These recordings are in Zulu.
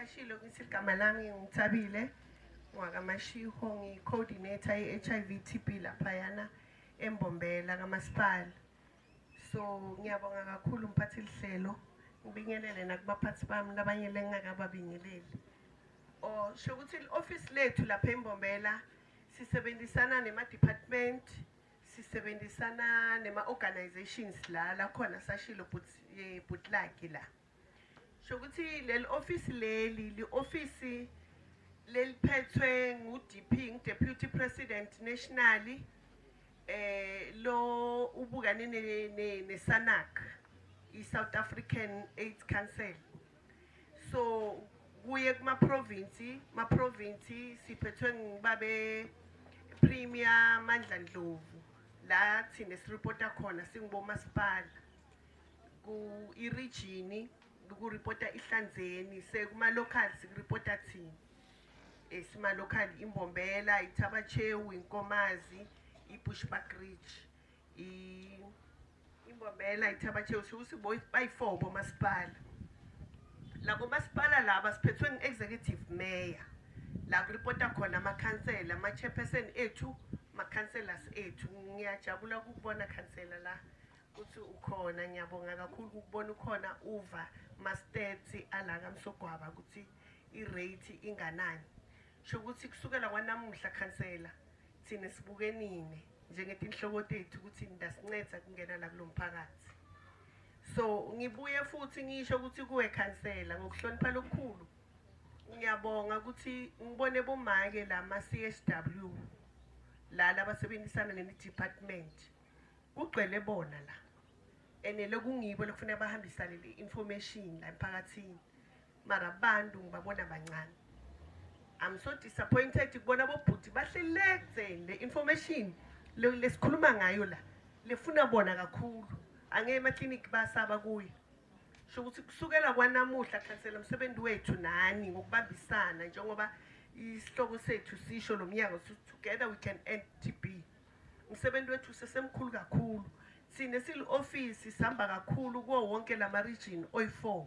Ashilo ukuthi igama lami ngithabile ngwakamashiho ngi-coordinator i-HIV TB laphayana embombela kamasipala so ngiyabonga kakhulu mphathi lihlelo ngibingelele nakubaphathi bami labanye lengingakababingeleli or sho ukuthi i-ofisi lethu lapha embombela sisebenzisana nema-department sisebenzisana nema-organizations la lakhona sashilo bhutlaki la Shokuthi leli office leli li office leliphethwe ngu DP ngu Deputy President nationally eh lo ubukane ne, ne, ne SANAC i South African AIDS Council so kuye kuma province ma province siphethwe ngibabe Premier Mandla Ndlovu la thina sirepota khona singubomasipala ku-irijini kuripota ihlanzeni sekuma-local sikuripota thina um sima-local imbombela ithabachewu inkomazi i-bushback ridge imbombela ithabachewu siwuthi bayi-four bomasipala labo masipala laba siphethwe ngu-executive mayor la kuripota khona amakhansela ama-chairperson ethu ma-councellors ethu ngiyajabula ukukubona khansela la Uthi ukhona ngiyabonga kakhulu ukubona ukhona uva ma stats ala ka Msogwaba ukuthi i rate inganani. Sho ukuthi kusukela kwanamuhla khansela thina sibuke nine njengetinhloko tethu ukuthi nidasinceda kungena la kulomphakathi. So ngibuye futhi ngisho ukuthi kuwe khansela ngokuhlonipha lokukhulu ngiyabonga ukuthi ngibone bomake la ma CSW la labasebenzisana ne department. Kugcwele bona la and lokungibo lokufuneka bahambisane le information la emphakathini mara abantu ngibabona bancane I'm so disappointed kubona bobhuti bahlelekze le information lesikhuluma ngayo la lefuna bona kakhulu angeke ema-clinic basaba kuyo sho ukuthi kusukela kwanamuhla khansela umsebenzi wethu nani ngokubambisana njengoba isihloko sethu sisho lo mnyango together we can end tb Umsebenzi wethu usesemkhulu kakhulu. Thina esili-ofisi sihamba kakhulu kuwo wonke lama region oyi-four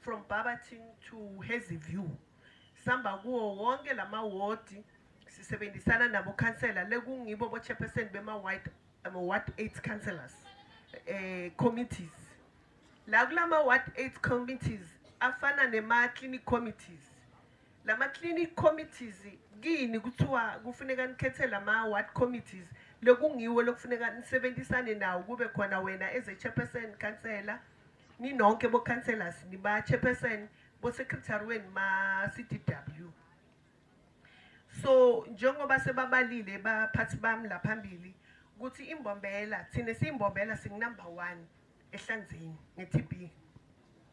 from Barberton to Hazyview. Sihamba kuwo wonke lama wodi sisebenzisana nabo khansela le kungibo bo chairperson bema ward ama ward 8 councillors eh committees. La kulama ward 8 committees afana nema clinic committees Lama clinic committees kini kuthiwa kufuneka nikhethe lama ward committees lokungiwo lokufuneka nisebenzisane nawo kube khona wena as a chairperson councillor ninonke bo councillors niba chairperson bo secretary wenu ma CDW so njengoba sebabalile baphathi bami la phambili ukuthi imbombela thina siyimbombela singu number 1 ehlanzeni ngeTB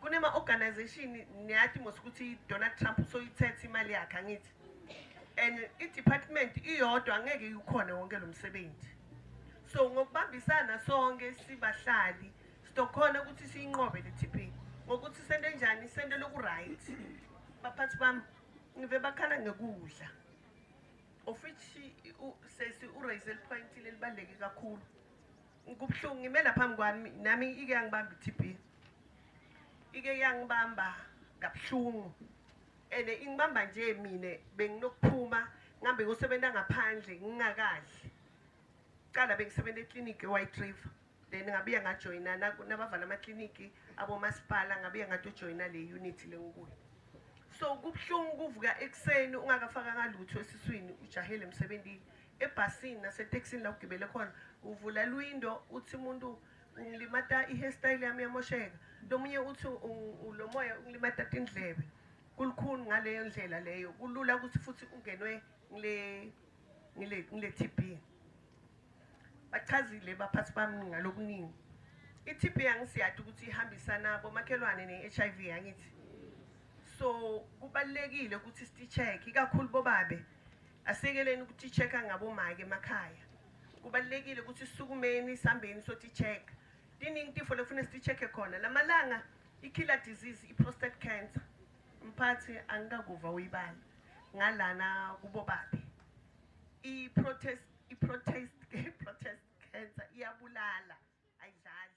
Kunema organization niyati mos ukuthi Donald Trump usoyithethe imali yakhe angithi. And i department iyodwa angeke ikhona wonke lo msebenzi. So ngokubambisana sonke sibahlali sizokhona ukuthi siyinqobe le TP ngokuthi sento enjani sento lokuright. Baphathi bami ngive bakhala ngekudla. Of which sesi u raise point lelibaleke kakhulu. Kubuhlungu ngime la phambi kwami nami ike yangibamba i-TB. Ike yangibamba kabuhlungu. And ingibamba nje mina benginokuphuma ngihambe ngosebenza ngaphandle ngingakadli. Cala bengisebenza eclinic eWhite River. Then ngabuya ngajoyina nabavala ama-clinic abomasipala ngabuya ngatojoyina le unit le ngikuyo. So kubuhlungu ukuvuka ekuseni ungakafakanga lutho esiswini ujahele emsebenzini. Ebhasini nasetekisini la ugibele khona uvula lwindo uthi umuntu ungilimata i-hairstyle yami yamosheka, lomunye uthi lomoya ungilimata tindlebe. Kulukhuni ngaleyo ndlela leyo, kulula ukuthi futhi ungenwe ngile ngile ngile TB. Bachazile baphathi bami ngalokuningi. I-TB angisiyadi ukuthi ihambisana bomakhelwane ne-HIV yangithi. So kubalekile ukuthi sithi check ikakhulu bobabe Asiyekeleni ukutitsheka ngabomake emakhaya. Kubalulekile ukuthi sisukumeni sihambeni sotitsheka. Tiningi tifo lekufuna sititsheke khona. Lamalanga i-killer disease i-prostate cancer. Mphathi angikakuva uyibala ngalana kubobaphi. I-protest i-protest protest cancer iyabulala ayidlali.